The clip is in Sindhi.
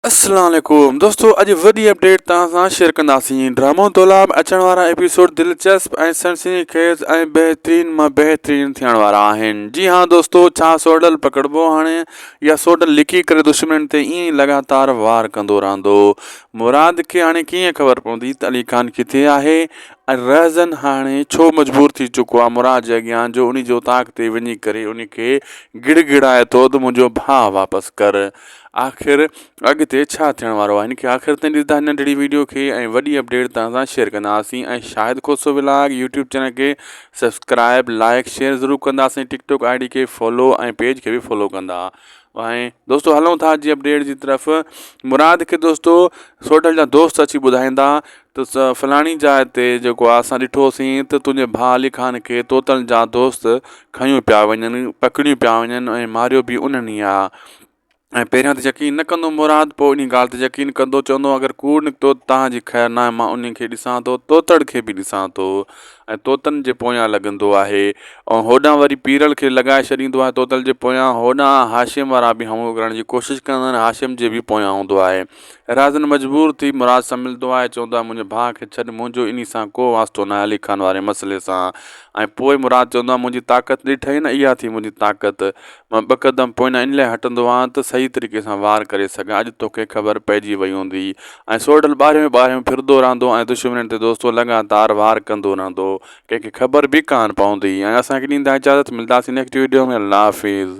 السلام عليڪم دوستو اڄ وڏي اپڊيٽ توهان سان شيئر ڪنداسين ڊرامو تولا ۾ اچڻ وارا ايپيسوڊ دلچسپ ۽ سنسني خيز ۽ بهترين مان بهترين ٿيڻ وارا آهن جي ها دوستو ڇا سوڊل پڪڙبو هاڻي يا سوڊل لڪي ڪري دشمنن تي ائين ئي لڳاتار وار ڪندو رهندو مراد کي هاڻي ڪيئن خبر پوندي ته علي خان ڪٿي آهي ۽ رهزن هاڻي ڇو مجبور ٿي چڪو آهي مراد جي اڳيان جو انهي جي اوطاق تي وڃي ڪري انهي کي گڙ گڙائي ٿو ته منهنجو ڀاء واپس ڪر آخر اڳتي ڇا ٿيڻ وارو آهي ان کي آخر تائين ڏسندا هن ننڍڙي ويڊيو کي ۽ وڏي اپڊيٽ توهان سان شيئر ڪنداسين ۽ Shahid Khoso vlog YouTube channel کي سبسڪرائب لائڪ شيئر ضرور ڪنداسين ٽڪ ٽوڪ آئي ڊي کي فالو ۽ پيج کي به فالو ڪندا ۽ دوستو هلون ٿا جي اپڊيٽ جي طرف مراد کي دوستو سوڍل جا دوست اچي ٻڌائيندا ته فلاڻي جاء تي جيڪو آ اسان ڏٺوسين ته تنهنجي ڀاء علي خان کي طوطن جا دوست کنيو پيا وڃن، پڪڙيون پيا وڃن ۽ ماريو به انهن ئي آ. ۽ پهريان ته يقين نه ڪندو مراد پوء انهي ڳالهه تي يقين ڪندو چوندو اگر ڪوڙ نڪتو ته توهان جي خير ناهي مان انهي کي ڏسان ٿو طوطڙ کي به ڏسان ٿو ۽ طوطن جي پويان لڳندو آهي ۽ هوڏانهن وري پيرل کي لڳائي ڇڏيندو آهي طوطل جي پويان هوڏانهن هاشم وارا به همهو ڪرڻ جي ڪوشش ڪندا آهن هاشم جي به پويان هوندو آهي. رازن مجبور ٿي مراد سان ملندو آهي ۽ چوندو آهي منهنجي ڀاء کي ڇڏ منهنجو انهي سان ڪو واسطو ناهي علي خان واري مسئلي سان ۽ پوء مراد چوندو آهي منهنجي طاقت ڏٺئي نه اها ٿي منهنجي طاقت مان ٻه قدم پوئنا ان لاء هٽندو آهيان ته صحيح طريقي سان وار ڪري سگهان اڄ توکي خبر پئجي وئي هوندي ۽ سورڍل ٻاهريون ئي ٻاهريون ڦرندو رهندو ۽ دشمنين تي دوستو لڳاتار وار ڪندو رهندو ڪنهن کي خبر به ڪانه پوندي ۽ اسان کي ڏيندا اجازت ملداسين نيڪٽ ويڊيو ۾ الله حافظ.